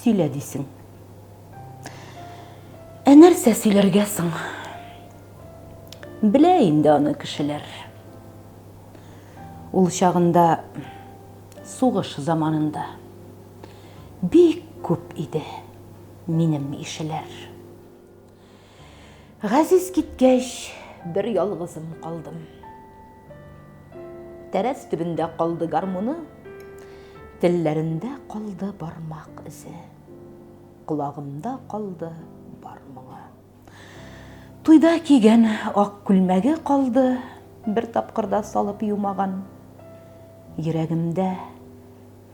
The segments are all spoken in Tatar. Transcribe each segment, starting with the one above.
сөйлә дисең. Ә нәрсә сөйләргә соң? Белә инде аны кешеләр. Ул чагында сугыш заманында бик күп иде минем ишеләр. Газиз киткәч, бер ялгызым калдым. Тәрәз төбендә калды гармуны, телләрендә калды бармак эзе, колагымда калды бар моңы. Туйда кигән ак күлмәге калды, бер тапкырда салып юмаган. Йөрәгемдә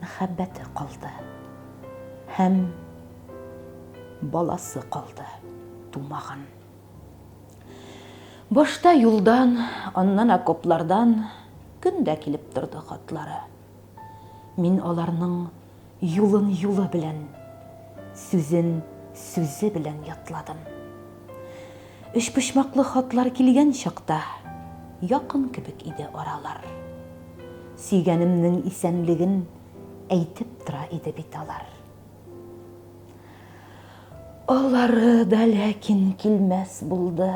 Мәхәббәте калды һәм баласы калды тумаган. Башта юлдан, аннан окоплардан көн дә килеп торды хатлары. Мин аларның юлын юлы белән, сүзен сүзе белән ятладым. Өчпочмаклы хатлар килгән чакта Якын кебек иде аралар. Сөйгәнемнең исәнлеген Әйтеп тора иде бит алар. Алары да ләкин килмәс булды.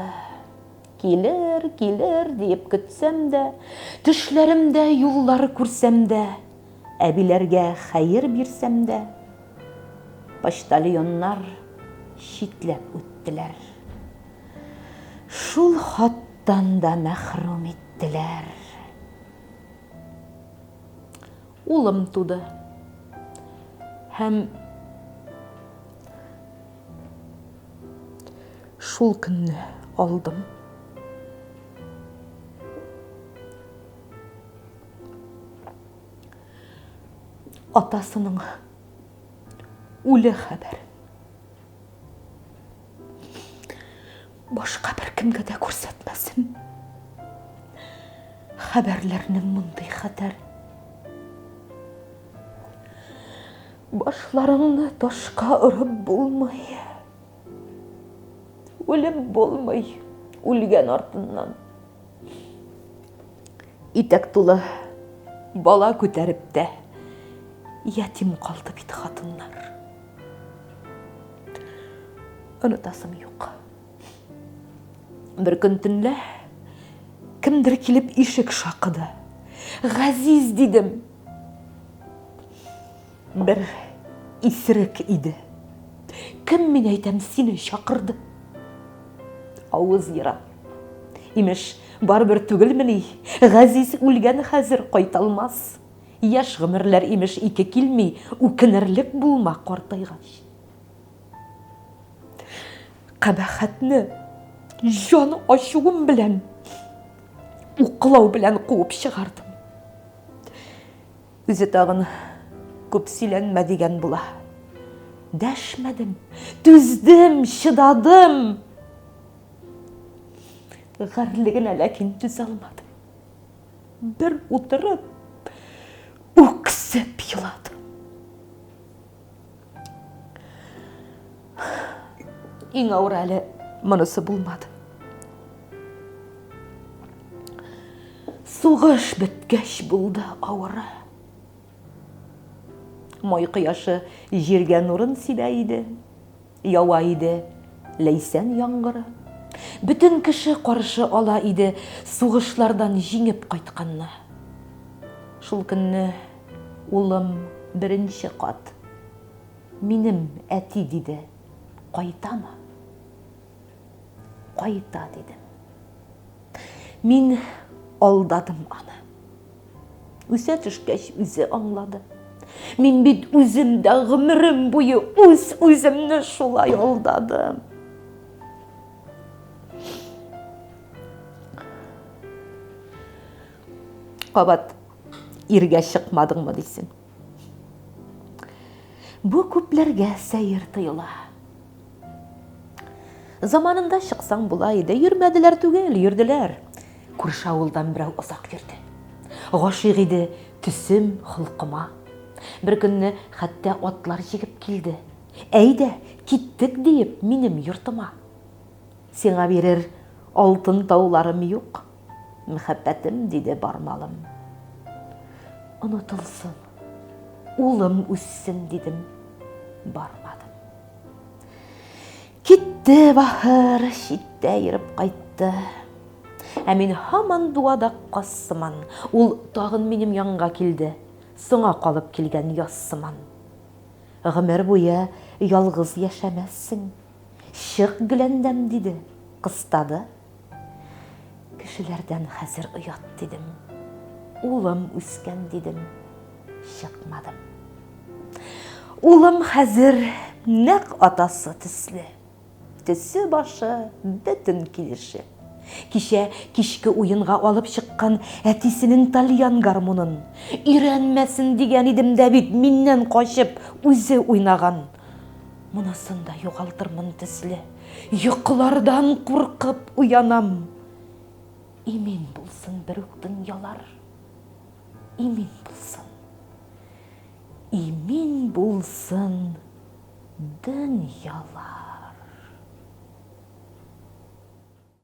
Килер, килер диеп көтсәм дә, Төшләремдә юллар күрсәм дә, Әбиләргә хәер бирсәм дә. Почтальоннар читләп үттеләр. Шул хаттан да мәхрүм иттеләр. Улым туды. Һәм шул көнне алдым. Атасының үле хәбәр. Башка бер кемгә дә күрсәтмәсен. Хәбәрләрнең мондый хәтәр. Башларыңны ташка орып булмый. Үлем булмый үлгән артыннан. Итәк тулы бала күтәреп тә ятим калды бит хатыннар. Онытасым юк. Бер көн төнлә кемдер килеп ишек шакыды. Газиз дидем. Бер исерек иде. Кем мин әйтәм сине чакырды? Авыз ерак. Имеш, барыбер түгелмени, Газиз үлгән хәзер, кайталмас. Яшь гомерләр, имеш, ике килми, Үкенерлек булма картайгач. Кабахәтне җан ачуым белән, Уклау белән куып чыгардым. Үзе тагын күп сөйләнмә дигән була. Дәшмәдем, түздем, чыдадым. Гарьлегенә ләкин түзалмадым. Бер утырып, үксеп еладым. Иң авыр әле монысы булмады. Сугыш беткәч булды авыры. Май кояшы җиргә нурын сибә иде. Ява иде Ләйсән яңгыры. Бөтен кеше каршы ала иде сугышлардан җиңеп кайтканны. Шул көнне улым беренче кат минем әти диде, кайтамы? Кайта дидем. Мин алдадым аны. Үсә төшкәч, үзе аңлады. Мин бит үзем дә гомерем буе үз-үземне шулай алдадым. Кабат иргә чыкмадыңмы дисең. Бу күпләргә сәер тоела. Заманында чыксаң була иде, йөрмәделәр түгел, йөрделәр. Күрше авылдан берәү озак йөрде. Гашыйк иде төсем, холкыма. Бер көнне хәтта атлар җигеп килде. Әйдә, киттек диеп, минем йортыма. Сиңа бирер алтын тауларым юк, Мөхәббәтем, диде бармалым. Онытылсын, улым үссен, дидем, бармадым. Китте бахыр, читтә ерып кайтты. Ә мин һаман дуада каз сыман. Ул тагын минем янга килде. Соңа калып килгән яз сыман. Гомер буе ялгыз яшәмәссең. Чык гөләндәм, диде, кыстады. Кешеләрдән хәзер оят дидем. Улым үскән дидем. Чыкмадым. Улым хәзер нәк атасы төсле. Төсе башы бөтен килеше. Кичә кичке уенга алып чыккан әтисенең тальян гармунын өйрәнмәсен дигән идем дә бит миннән качып үзе уйнаган. Монысын да югалтырмын төсле. Йокылардан куркып уянам. Имин булсын берүк дөньялар. Имин булсын. Имин булсын дөньялар.